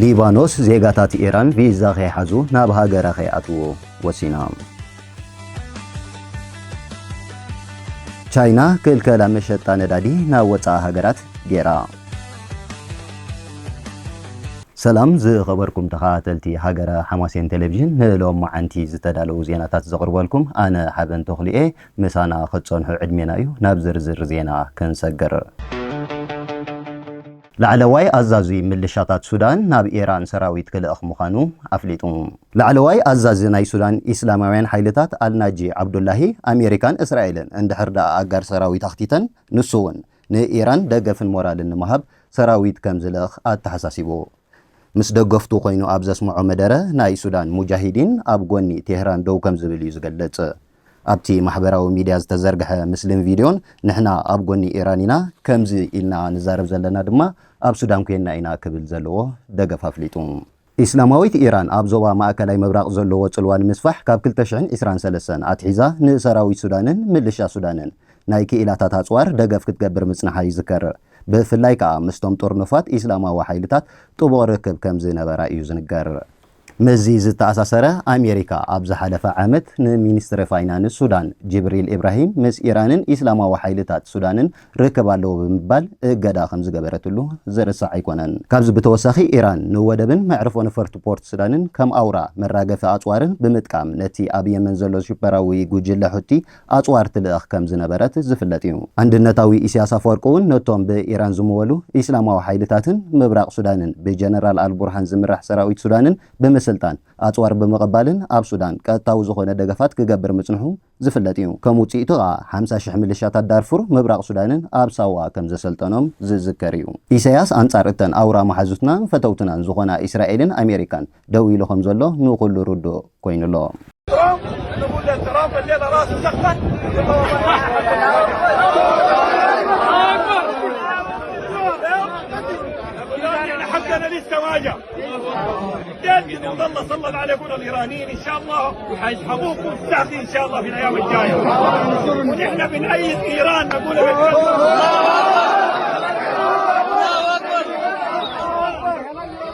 ሊባኖስ ዜጋታት ኢራን ቪዛ ከይሓዙ ናብ ሃገራ ከይኣትዉ ወሲና። ቻይና ክልከላ መሸጣ ነዳዲ ናብ ወጻኢ ሃገራት ገይራ። ሰላም ዝኸበርኩም ተኸታተልቲ ሃገረ ሓማሴን ቴሌቪዥን ንሎማዓንቲ ዝተዳለዉ ዜናታት ዘቕርበልኩም ኣነ ሓበን ተኽሉ እየ። ምሳና ክትጸንሑ ዕድሜና እዩ። ናብ ዝርዝር ዜና ክንሰግር። ላዕለዋይ ኣዛዚ ምልሻታት ሱዳን ናብ ኢራን ሰራዊት ክልእኽ ምዃኑ ኣፍሊጡ። ላዕለዋይ ኣዛዚ ናይ ሱዳን ኢስላማውያን ሓይልታት ኣልናጂ ዓብዱላሂ፣ ኣሜሪካን እስራኤልን እንድሕር ድኣ ኣጋር ሰራዊት ኣኽቲተን ንሱ'ውን ንኢራን ደገፍን ሞራልን ንምሃብ ሰራዊት ከም ዝልእኽ ኣተሓሳሲቡ። ምስ ደገፍቱ ኮይኑ ኣብ ዘስምዖ መደረ፣ ናይ ሱዳን ሙጃሂዲን ኣብ ጎኒ ቴህራን ደው ከም ዝብል እዩ ዝገልጽ። ኣብቲ ማሕበራዊ ሚድያ ዝተዘርግሐ ምስልን ቪድዮን ንሕና ኣብ ጎኒ ኢራን ኢና፣ ከምዚ ኢልና ንዛረብ ዘለና ድማ ኣብ ሱዳን ኮይንና ኢና ክብል ዘለዎ ደገፍ ኣፍሊጡ። ኢስላማዊት ኢራን ኣብ ዞባ ማእከላይ ምብራቕ ዘለዎ ጽልዋ ንምስፋሕ ካብ ክልተ ሽሕን ዕስራን ሰለስተን ኣትሒዛ ንሰራዊት ሱዳንን ምልሻ ሱዳንን ናይ ክኢላታት ኣጽዋር ደገፍ ክትገብር ምጽንሓ ይዝከር። ብፍላይ ከኣ ምስቶም ጥርኑፋት ኢስላማዊ ሓይልታት ጥቡቕ ርክብ ከምዝነበራ እዩ ዝንገር። ምስዚ ዝተኣሳሰረ ኣሜሪካ ኣብ ዝሓለፈ ዓመት ንሚንስትሪ ፋይናንስ ሱዳን ጂብሪል ኢብራሂም ምስ ኢራንን ኢስላማዊ ሓይልታት ሱዳንን ርክብ ኣለዎ ብምባል እገዳ ከምዝገበረትሉ ዝርሳዕ ኣይኮነን። ካብዚ ብተወሳኺ ኢራን ንወደብን መዕርፎ ነፈርቲ ፖርት ሱዳንን ከም ኣውራ መራገፊ ኣጽዋርን ብምጥቃም ነቲ ኣብ የመን ዘሎ ሽበራዊ ጉጅለ ሑቲ ኣጽዋር ትልእኽ ከም ዝነበረት ዝፍለጥ እዩ። ኣንድነታዊ ኢሲያስ ኣፈወርቂ'ውን ነቶም ብኢራን ዝምወሉ ኢስላማዊ ሓይልታትን ምብራቕ ሱዳንን ብጀነራል ኣልቡርሃን ዝምራሕ ሰራዊት ሱዳንን ብምስልጣን፣ ኣጽዋር ብምቕባልን ኣብ ሱዳን ቀጥታዊ ዝኾነ ደገፋት ክገብር ምጽንሑ ዝፍለጥ እዩ። ከም ውጽኢቱ ከኣ ሓምሳ ሽሕ ምልሻታት ዳርፉር ምብራቕ ሱዳንን ኣብ ሳዋ ከም ዘሰልጠኖም ዝዝከር እዩ። ኢሳያስ ኣንጻር እተን ኣውራ መሓዙትናን ፈተውትናን ዝኾና ኢስራኤልን ኣሜሪካን ደው ኢሉ ከምዘሎ ንኹሉ ርዱእ ኮይኑ ኣሎ።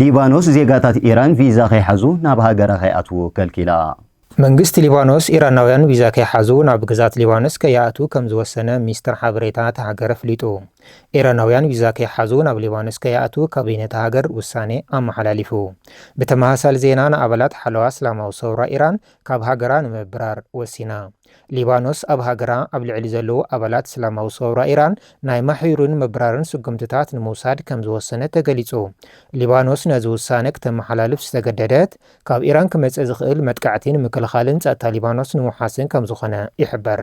ሊባኖስ ዜጋታት ኢራን ቪዛ ከይሓዙ ናብ ሃገራ ከይኣትዉ ከልኪላ። መንግስቲ ሊባኖስ፣ ኢራናውያን ቪዛ ከይሓዙ ናብ ግዝኣት ሊባኖስ ከይኣትዉ ከም ዝወሰነ ሚኒስተር ሓበሬታ እታ ሃገር ኣፍሊጡ። ኢራናውያን ቪዛ ከይሓዙ ናብ ሊባኖስ ከይኣትዉ ካቢነ እታ ሃገር ውሳኔ ኣመሓላሊፉ። ብተመሳሳሊ ዜና ንኣባላት ሓለዋ እስላማዊ ሰውራ ኢራን ካብ ሃገራ ንምብራር ወሲና። ሊባኖስ ኣብ ሃገራ ኣብ ልዕሊ ዘለዉ ኣባላት እስላማዊ ሰውራ ኢራን ናይ ማሕዩርን ምብራርን ስጉምትታት ንምውሳድ ከም ዝወሰነት ተገሊጹ። ሊባኖስ ነዚ ውሳነ ክተመሓላልፍ ዝተገደደት፣ ካብ ኢራን ክመጽእ ዝኽእል መጥቃዕቲ ንምክልኻልን ጸጥታ ሊባኖስ ንምውሓስን ከምዝኾነ ይሕበር።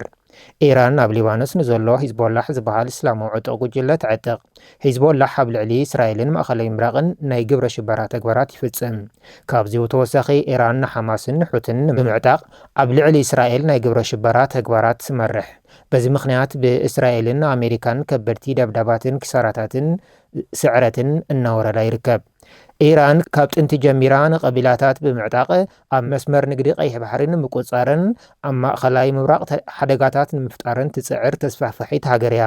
ኢራን ኣብ ሊባኖስ ንዘሎ ሂዝቦላሕ ዝበሃል እስላማዊ ዕጡቕ ጉጅለ ተዕጥቕ። ሂዝቦላሕ ኣብ ልዕሊ እስራኤልን ማእኸላይ ምብራቕን ናይ ግብረ ሽበራ ተግባራት ይፍጽም። ካብዚ ብተወሳኺ ኢራን ንሓማስን ንሑትን ንምዕጣቕ ኣብ ልዕሊ እስራኤል ናይ ግብረ ሽበራ ተግባራት ትመርሕ። በዚ ምኽንያት ብእስራኤልን ኣሜሪካን ከበድቲ ደብዳባትን ኪሳራታትን ስዕረትን እናወረዳ ይርከብ። ኢራን ካብ ጥንቲ ጀሚራ ንቀቢላታት ብምዕጣቕ ኣብ መስመር ንግዲ ቀይሕ ባሕሪ ንምቁጽጻርን ኣብ ማእኸላይ ምብራቕ ሓደጋታት ንምፍጣርን ትጽዕር ተስፋሕፋሒት ሃገር እያ።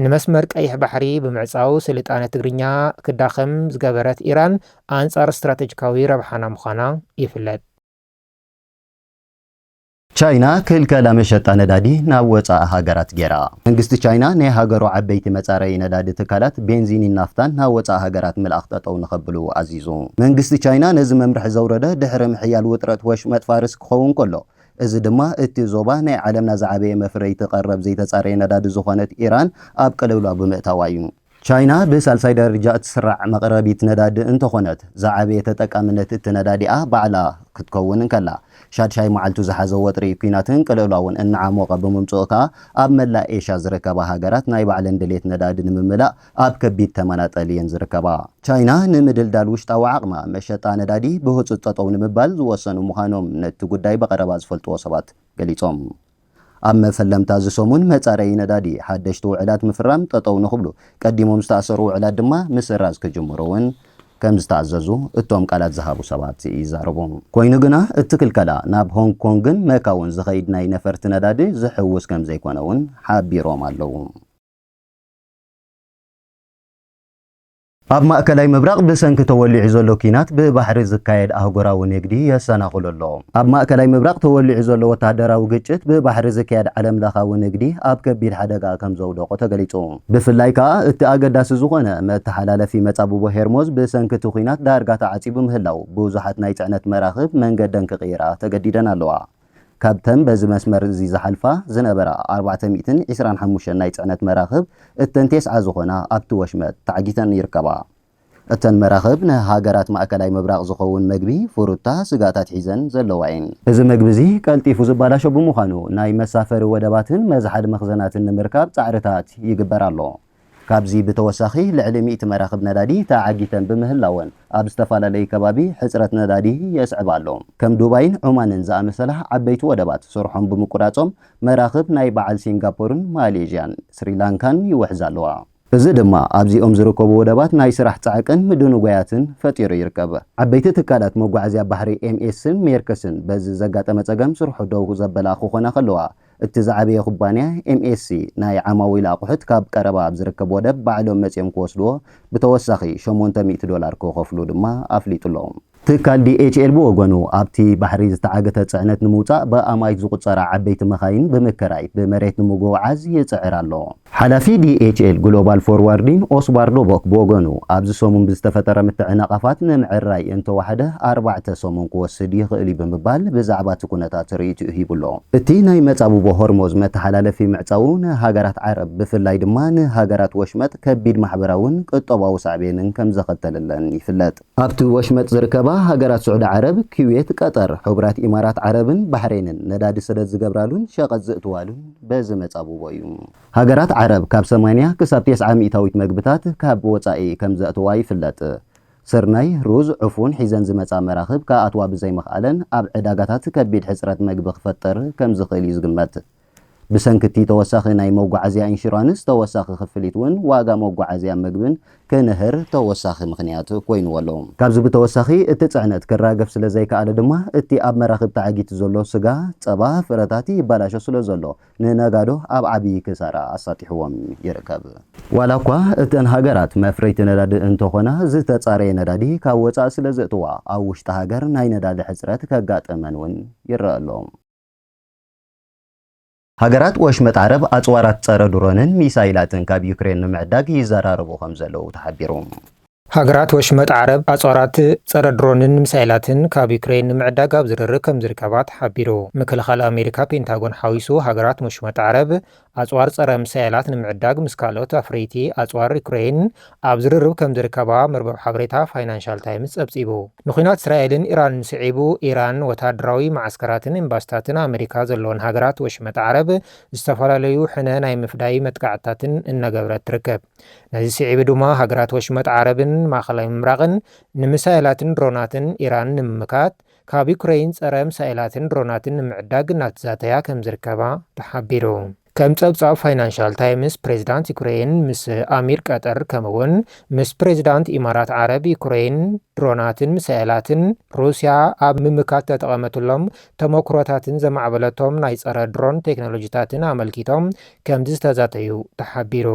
ንመስመር ቀይሕ ባሕሪ ብምዕጻው ስልጣነ ትግርኛ ክዳኸም ዝገበረት ኢራን ኣንጻር ስትራተጂካዊ ረብሓና ምዃና ይፍለጥ። ቻይና ክልከላ መሸጣ ነዳዲ ናብ ወጻኢ ሃገራት ገይራ። መንግስቲ ቻይና ናይ ሃገሩ ዓበይቲ መጻረዪ ነዳዲ ትካላት ቤንዚንን ናፍታን ናብ ወጻኢ ሃገራት ምልኣኽ ጠጠው ንኸብሉ ኣዚዙ። መንግስቲ ቻይና ነዚ መምርሒ ዘውረደ ድሕሪ ምሕያል ውጥረት ወሽመጥ ፋርስ ክኸውን ከሎ፣ እዚ ድማ እቲ ዞባ ናይ ዓለምና ዝዓበየ መፍረይቲ ቀረብ ዘይተጻረየ ነዳዲ ዝኾነት ኢራን ኣብ ቅልውላው ብምእታዋ እዩ። ቻይና ብሳልሳይ ደረጃ እትስራዕ መቕረቢት ነዳዲ እንተኾነት፣ ዝዓበየ ተጠቃምነት እቲ ነዳዲኣ ባዕላ ክትከውን እንከላ፣ ሻድሻይ መዓልቱ ዝሓዘ ወጥሪ ኲናትን ቅልውላውን እናዓሞቐ ብምምጽኡ ከኣ፣ ኣብ መላእ ኤሽያ ዝርከባ ሃገራት ናይ ባዕለን ድሌት ነዳዲ ንምምላእ ኣብ ከቢድ ተመናጠል እየን ዝርከባ። ቻይና ንምድልዳል ውሽጣዊ ዓቕማ መሸጣ ነዳዲ ብህጹጽ ጠጠው ንምባል ዝወሰኑ ምዃኖም ነቲ ጉዳይ ብቐረባ ዝፈልጥዎ ሰባት ገሊጾም። ኣብ መፈለምታ እዚ ሰሙን መፃረዪ ነዳዲ ሓደሽቲ ውዕላት ምፍራም ጠጠው ንኽብሉ ቀዲሞም ዝተኣሰሩ ውዕላት ድማ ምስራዝ ክጅምሩ እውን ከምዝተኣዘዙ እቶም ቃላት ዝሃቡ ሰባት ይዛረቡ። ኮይኑ ግና እቲ ክልከላ ናብ ሆንግ ኮንግን መካውን ዝኸይድ ናይ ነፈርቲ ነዳዲ ዝሕውስ ከምዘይኮነ እውን ሓቢሮም ኣለው። ኣብ ማእከላይ ምብራቕ ብሰንኪ ተወሊዑ ዘሎ ኲናት ብባሕሪ ዝካየድ ኣህጉራዊ ንግዲ የሰናኽሎ ኣሎ። ኣብ ማእከላይ ምብራቕ ተወሊዑ ዘሎ ወተሃደራዊ ግጭት ብባሕሪ ዝካየድ ዓለምለኻዊ ንግዲ ኣብ ከቢድ ሓደጋ ከም ዘውደቖ ተገሊጹ። ብፍላይ ከኣ እቲ ኣገዳሲ ዝኾነ መተሓላለፊ መጻብቦ ሄርሞዝ ብሰንኪ እቲ ኲናት ዳርጋ ተዓጺቡ ምህላዉ ብዙሓት ናይ ጽዕነት መራኽብ መንገደን ክቕይራ ተገዲደን ኣለዋ። ካብተን በዚ መስመር እዚ ዝሓልፋ ዝነበራ ኣርባዕተ ሚእትን ዕስራን ሓሙሽተን ናይ ጽዕነት መራኽብ እተን ቴስዓ ዝኾና ኣብቲ ወሽመጥ ተዓጊተን ይርከባ። እተን መራኽብ ንሃገራት ማእከላይ ምብራቕ ዝኸውን መግቢ፣ ፍሩታ፣ ስጋታት ሒዘን ዘለዋ እየን። እዚ መግቢ እዚ ቀልጢፉ ዝባላሾ ብምዃኑ ናይ መሳፈሪ ወደባትን መዝሓሊ መኽዘናትን ንምርካብ ጻዕርታት ይግበር ኣሎ። ካብዚ ብተወሳኺ ልዕሊ ሚእቲ መራኽብ ነዳዲ ተዓጊተን ብምህላወን ኣብ ዝተፈላለዩ ከባቢ ሕፅረት ነዳዲ የስዕባ ኣሎ። ከም ዱባይን ዑማንን ዝኣመሰላ ዓበይቲ ወደባት ስርሖም ብምቁራፆም መራኽብ ናይ በዓል ሲንጋፖርን ማሌዥያን ስሪላንካን ይውሕዛ ኣለዋ። እዚ ድማ ኣብዚኦም ዝርከቡ ወደባት ናይ ስራሕ ፃዕቅን ምድንጓያትን ፈጢሩ ይርከብ። ዓበይቲ ትካላት መጓዓዝያ ባሕሪ ኤምኤስን ሜርክስን በዚ ዘጋጠመ ፀገም ስርሖ ደው ዘበላ ክኾና ከለዋ እቲ ዝዓበየ ኩባንያ ኤምኤስሲ ናይ ዓማዊል ኣቑሑት ካብ ቀረባ ኣብ ዝርከብ ወደብ ባዕሎም መፂኦም ክወስድዎ ብተወሳኺ ሸሞንተ ሚእቲ ዶላር ክኸፍሉ ድማ ኣፍሊጡ'ሎ። ትካል ዲኤችኤል ብወገኑ ኣብቲ ባሕሪ ዝተዓገተ ፅዕነት ንምውፃእ ብኣማኢት ዝቑፀራ ዓበይቲ መኻይን ብምክራይ ብመሬት ንምጉዕዓዝ ይፅዕር ኣሎ። ሓላፊ ዲኤችኤል ግሎባል ፎርዋርዲን ኦስባርዶ ቦክ ብወገኑ፣ ኣብዚ ሰሙን ብዝተፈጠረ ምትዕንቓፋት ምምዕርራይ እንተወሓደ ኣርባዕተ ሰሙን ክወስድ ይኽእል'ዩ ብምባል ብዛዕባ እቲ ኩነታት ርእይትኡ ሂቡ'ሎ። እቲ ናይ መጻብቦ ሆርሞዝ መተሓላለፊ ምዕጻዉ ንሃገራት ዓረብ ብፍላይ ድማ ንሃገራት ወሽመጥ ከቢድ ማሕበራውን ቁጠባዊ ሳዕቤንን ከምዘኸተለለን ይፍለጥ። ኣብቲ ወሽመጥ ዝርከባ ሃገራት ስዑዲ ዓረብ፣ ኲዌት፣ ቀጠር፣ ሕቡራት ኢማራት ዓረብን ባሕሬንን ነዳዲ ስደት ዝገብራሉን ሸቐጥ ዝእትዋሉን በዚ መጻብቦ እዩ። ሃገራት ዓረብ ካብ ሰማንያ ክሳብ ቴስዓ ሚእታዊት መግብታት ካብ ወጻኢ ከም ዘእትዋ ይፍለጥ። ስርናይ፣ ሩዝ፣ ዕፉን ሒዘን ዝመጻ መራኽብ ክኣትዋ ብዘይምኽኣለን ኣብ ዕዳጋታት ከቢድ ሕጽረት መግቢ ክፈጥር ከም ዝኽእል እዩ ዝግመት። ብሰንኪ እቲ ተወሳኺ ናይ መጓዓዝያ ኢንሹራንስ ተወሳኺ ክፍሊት እውን ዋጋ መጓዓዝያን ምግብን ክንህር ተወሳኺ ምኽንያት ኮይንዎ ኣሎ። ካብዚ ብተወሳኺ እቲ ፅዕነት ክራገፍ ስለዘይከኣለ ድማ እቲ ኣብ መራኽብ ተዓጊቱ ዘሎ ስጋ፣ ፀባ፣ ፍረታት ይበላሾ ስለዘሎ ንነጋዶ ኣብ ዓብዪ ክሳራ ኣሳጢሕዎም ይርከብ። ዋላ እኳ እተን ሃገራት መፍረይቲ ነዳዲ እንተኾና ዝተፃረየ ነዳዲ ካብ ወፃኢ ስለዘእትዋ ኣብ ውሽጢ ሃገር ናይ ነዳዲ ሕፅረት ከጋጥመን እውን ይረኣ ኣሎ። ሃገራት ወሽመጥ ዓረብ ኣጽዋራት ጸረ ድሮንን ሚሳይላትን ካብ ዩክሬን ንምዕዳግ ይዘራረቡ ከምዘለዉ ተሓቢሩ። ሃገራት ወሽመጥ ዓረብ ኣጽዋራት ጸረ ድሮንን ሚሳይላትን ካብ ዩክሬን ንምዕዳግ ኣብ ዝርርብ ከምዝርከባ ተሓቢሩ። ምክልኻል ኣሜሪካ ፔንታጎን ሓዊሱ ሃገራት ወሽመጥ ዓረብ ኣጽዋር ጸረ ሚሳኤላት ንምዕዳግ ምስ ካልኦት ኣፍሪይቲ ኣጽዋር ዩክረይን ኣብ ዝርርብ ከም ዝርከባ መርበብ ሓበሬታ ፋይናንሻል ታይምስ ጸብጺቡ። ንኲናት እስራኤልን ኢራንን ስዒቡ፣ ኢራን ወተሃደራዊ መዓስከራትን ኤምባሲታትን ኣመሪካ ዘለወን ሃገራት ወሽመጥ ዓረብ ዝተፈላለዩ ሕነ ናይ ምፍዳይ መጥቃዕትታትን እናገበረት ትርከብ። ነዚ ስዒቡ ድማ ሃገራት ወሽመጥ ዓረብን ማእከላይ ምብራቕን ንሚሳኤላትን ድሮናትን ኢራን ንምምካት ካብ ዩክረይን ጸረ ምሳኤላትን ድሮናትን ንምዕዳግ እናተዛተያ ከምዝርከባ ተሓቢሩ። ከም ጸብጻብ ፋይናንሻል ታይምስ፣ ፕሬዝዳንት ዩክረይን ምስ ኣሚር ቀጠር ከምኡ'ውን ምስ ፕሬዝዳንት ኢማራት ዓረብ፣ ዩክረይን ድሮናትን ምሳኤላትን ሩስያ ኣብ ምምካት እተጠቐመትሎም ተሞክሮታትን ዘማዕበለቶም ናይ ጸረ ድሮን ቴክኖሎጂታትን ኣመልኪቶም ከምዝተዛተዩ ተሓቢሩ።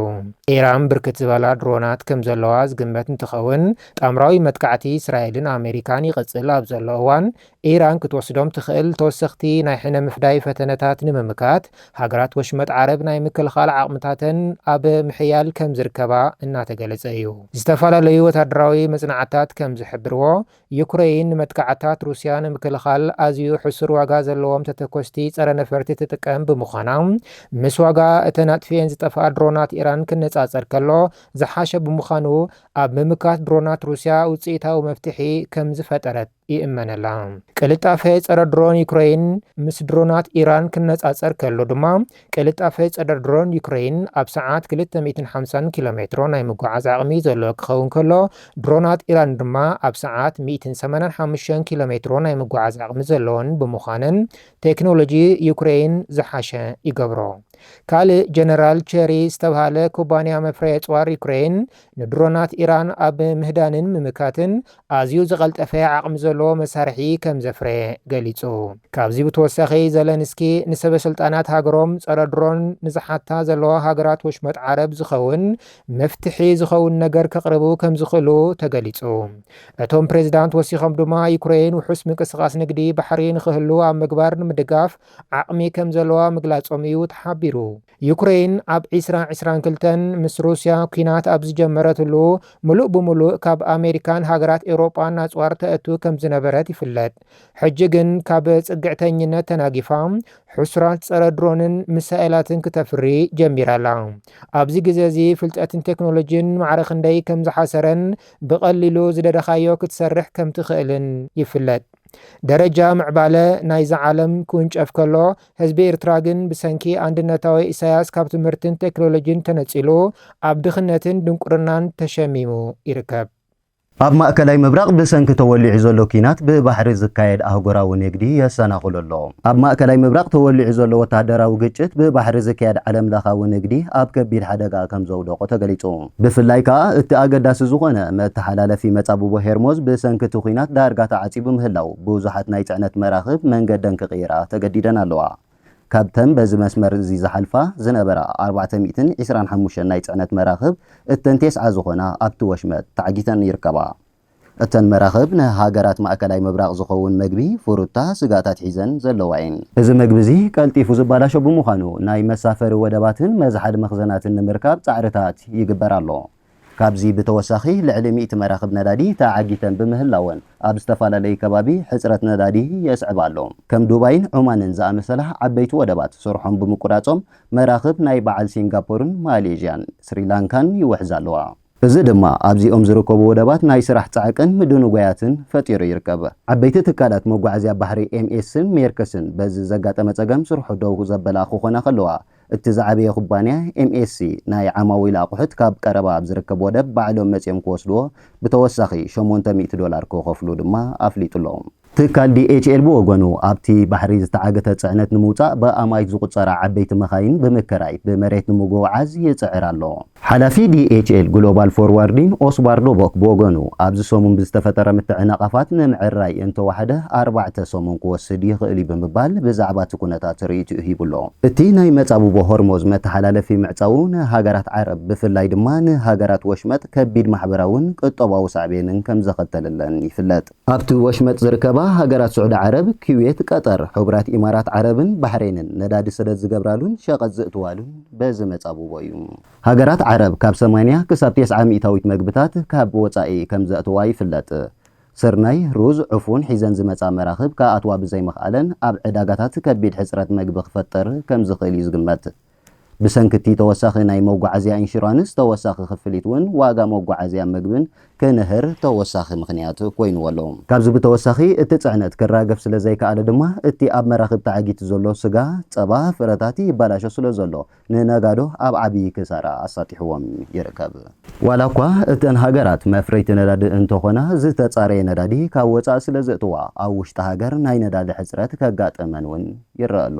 ኢራን ብርክት ዝበላ ድሮናት ከምዘለዋ ዝግመት እንትኸውን፣ ጣምራዊ መጥቃዕቲ እስራኤልን ኣመሪካን ይቕፅል ኣብ ዘሎ እዋን ኢራን ክትወስዶም ትኽእል ተወሰኽቲ ናይ ሕነ ምፍዳይ ፈተነታት ንምምካት ሃገራት ወሽመጥ ዓረብ ናይ ምክልኻል ዓቕምታተን ኣብ ምሕያል ከምዝርከባ እናተገለፀ እዩ። ዝተፈላለዩ ወታደራዊ መፅናዕትታት ከምዝሕብርዎ ዩክረይን ንመጥቃዕትታት ሩስያ ንምክልኻል ኣዝዩ ሕሱር ዋጋ ዘለዎም ተተኮስቲ ጸረ ነፈርቲ ትጥቀም ብምዃና፣ ምስ ዋጋ እተን ኣጥፊኤን ዝጠፍኣ ድሮናት ኢራን ክነጻጸር ከሎ ዝሓሸ ብምዃኑ፣ ኣብ ምምካት ድሮናት ሩስያ ውጽኢታዊ መፍትሒ ከም ዝፈጠረት ይእመነላ። ቅልጣፈ ጸረ ድሮን ዩክረይን ምስ ድሮናት ኢራን ክነጻጸር ከሎ ድማ ቅልጣፈ ጸረ ድሮን ዩክረይን ኣብ ሰዓት ክልተ ሚእትን ሓምሳን ኪሎ ሜትሮ ናይ ምጉዓዝ ዓቕሚ ዘለዎ ክኸውን ከሎ፣ ድሮናት ኢራን ድማ ኣብ ሰዓት ሚእትን ሰማንያን ሓሙሽተን ኪሎ ሜትሮ ናይ ምጉዓዝ ዓቕሚ ዘለወን ብምዃነን ቴክኖሎጂ ዩክረይን ዝሓሸ ይገብሮ። ካልእ ጀነራል ቸሪ ዝተብሃለ ኩባንያ መፍረዪ ኣጽዋር ዩክረይን ንድሮናት ኢራን ኣብ ምህዳንን ምምካትን ኣዝዩ ዝቐልጠፈ ዓቕሚ ዘለዎ መሳርሒ ከም ዘፍረየ ገሊጹ። ካብዚ ብተወሳኺ ዘለንስኪ ንሰበስልጣናት ሃገሮም ጸረ ድሮን ንዝሓታ ዘለዋ ሃገራት ወሽመጥ ዓረብ ዝኸውን መፍትሒ ዝኸውን ነገር ከቕርቡ ከም ዝኽእሉ ተገሊጹ። እቶም ፕሬዝዳንት ወሲኾም ድማ ዩክረይን ውሑስ ምንቅስቓስ ንግዲ ባሕሪ ንኽህሉ ኣብ ምግባር ንምድጋፍ ዓቕሚ ከም ዘለዋ ምግላጾም እዩ ተሓቢሩ። ዩክረይን ኣብ ዕስራ ዕስራን ክልተን ምስ ሩስያ ኲናት ኣብ ዝጀመረትሉ፣ ምሉእ ብምሉእ ካብ ኣመሪካን ሃገራት ኤውሮጳን ኣጽዋር ተእቱ ከም ዝነበረት ይፍለጥ። ሕጂ ግን ካብ ጽግዕተኝነት ተናጊፋ፣ ሕሱራት ጸረ ድሮንን ሚሳኤላትን ክተፍሪ ጀሚራ ኣላ። ኣብዚ ግዜ እዚ ፍልጠትን ቴክኖሎጂን ማዕረ ክንደይ ከም ዝሓሰረን ብቐሊሉ ዝደለኻዮ ክትሰርሕ ከም ትኽእልን ይፍለጥ። ደረጃ ምዕባለ ናይዛ ዓለም ክውንጨፍ ከሎ ህዝቢ ኤርትራ ግን ብሰንኪ ኣንድነታዊ ኢሳያስ ካብ ትምህርትን ቴክሎሎጂን ተነጺሉ ኣብ ድኽነትን ድንቁርናን ተሸሚሙ ይርከብ። ኣብ ማእከላይ ምብራቕ ብሰንኪ ተወሊዑ ዘሎ ኲናት ብባሕሪ ዝካየድ ኣህጉራዊ ንግዲ የሰናኽሎ ኣሎ። ኣብ ማእከላይ ምብራቕ ተወሊዑ ዘሎ ወተሃደራዊ ግጭት ብባሕሪ ዝካየድ ዓለምለኻዊ ንግዲ ኣብ ከቢድ ሓደጋ ከምዘውደቖ ተገሊጹ። ብፍላይ ከኣ እቲ ኣገዳሲ ዝኾነ መተሓላለፊ መጻብቦ ሄርሞዝ ብሰንኪ እቲ ኲናት ዳርጋ ተዓጺቡ ምህላዉ ብዙሓት ናይ ጽዕነት መራኽብ መንገደን ክቕይራ ተገዲደን ኣለዋ። ካብተን በዚ መስመር እዚ ዝሓልፋ ዝነበራ ኣርባዕተ ሚእትን ዒስራን ሓሙሽተን ናይ ጽዕነት መራኽብ እተን ቴስዓ ዝኾና ኣብቲ ወሽመጥ ተዓጊተን ይርከባ። እተን መራኽብ ንሃገራት ማእከላይ ምብራቕ ዝኸውን መግቢ፣ ፍሩታ፣ ስጋታት ሒዘን ዘለዋ እየን። እዚ መግቢ እዚ ቀልጢፉ ዝባላሾ ብምዃኑ ናይ መሳፈሪ ወደባትን መዝሓሊ መኽዘናትን ንምርካብ ጻዕርታት ይግበር ኣሎ። ካብዚ ብተወሳኺ ልዕሊ ሚእቲ መራኽብ ነዳዲ ተዓጊተን ብምህላወን ኣብ ዝተፈላለዩ ከባቢ ሕጽረት ነዳዲ የስዕባ ኣሎ። ከም ዱባይን ዑማንን ዝኣመሰላ ዓበይቲ ወደባት ስርሖም ብምቁራጾም መራኽብ ናይ በዓል ሲንጋፖርን ማሌዥያን፣ ስሪላንካን ይውሕዛ ኣለዋ። እዚ ድማ ኣብዚኦም ዝርከቡ ወደባት ናይ ስራሕ ፃዕቅን ምድንጓያትን ፈጢሩ ይርከብ። ዓበይቲ ትካላት መጓዓዝያ ባሕሪ ኤምኤስን ሜርክስን በዚ ዘጋጠመ ፀገም ስርሑ ደው ዘበላ ክኾና ከለዋ እቲ ዝዓበየ ኩባንያ ኤምኤስሲ ናይ ዓማዊል ኣቑሑት ካብ ቀረባ ኣብ ዝርከብ ወደብ ባዕሎም መፂኦም ክወስድዎ ብተወሳኺ ሸሞንተ ሚእቲ ዶላር ክኸፍሉ ድማ ኣፍሊጡ'ሎ። ትካል ዲኤችኤል ብወገኑ፣ ኣብቲ ባሕሪ ዝተዓግተ ጽዕነት ንምውጻእ ብኣማኢት ዝቑጸራ ዓበይቲ መኻይን ብምከራይ ብመሬት ንምጉዕዓዝ ይጽዕር ኣሎ። ሓላፊ ዲኤችኤል ግሎባል ፎርዋርዲን ኦስባር ሎቦክ ብወገኑ፣ ኣብዚ ሰሙን ብዝተፈጠረ ምትዕንቓፋት ንምዕራይ እንተወሓደ ኣርባዕተ ሰሙን ክወስድ ይኽእል'ዩ ብምባል ብዛዕባ እቲ ኩነታት ርእይትኡ ሂቡ'ሎ። እቲ ናይ መጻብቦ ሆርሞዝ መተሓላለፊ ምዕጻዉ ንሃገራት ዓረብ ብፍላይ ድማ ንሃገራት ወሽመጥ ከቢድ ማሕበራውን ቁጠባዊ ሳዕቤንን ከምዘኸተለለን ይፍለጥ። ኣብቲ ወሽመጥ ዝርከባ ሃገራት ስዑዲ ዓረብ፣ ኲዌት፣ ቀጠር፣ ሕቡራት ኢማራት ዓረብን ባሕሬንን ነዳዲ ስደት ዝገብራሉን ሸቐጥ ዝእትዋሉን በዚ መጻብቦ እዩ። ሃገራት ዓረብ ካብ ሰማንያ ክሳብ ቴስዓ ሚእታዊት መግብታት ካብ ወጻኢ ከም ዘእትዋ ይፍለጥ። ስርናይ፣ ሩዝ፣ ዕፉን ሒዘን ዝመጻ መራኽብ ክኣትዋ ብዘይምኽኣለን ኣብ ዕዳጋታት ከቢድ ሕጽረት መግቢ ክፈጥር ከም ዝኽእል እዩ ዝግመት። ብሰንኪ እቲ ተወሳኺ ናይ መጓዓዝያ ኢንሹራንስ ተወሳኺ ክፍሊት እውን ዋጋ መጓዓዝያን ምግብን ክንህር ተወሳኺ ምኽንያት ኮይንዎ ኣሎ። ካብዚ ብተወሳኺ እቲ ፅዕነት ክራገፍ ስለዘይከኣለ ድማ እቲ ኣብ መራኽብ ተዓጊቱ ዘሎ ስጋ፣ ፀባ፣ ፍረታት ይበላሾ ስለዘሎ ንነጋዶ ኣብ ዓብዪ ክሳራ ኣሳጢሕዎም ይርከብ። ዋላ እኳ እተን ሃገራት መፍረይቲ ነዳዲ እንተኾና ዝተፃረየ ነዳዲ ካብ ወፃኢ ስለዘእትዋ ኣብ ውሽጢ ሃገር ናይ ነዳዲ ሕፅረት ከጋጥመን እውን ይረኣ ኣሎ።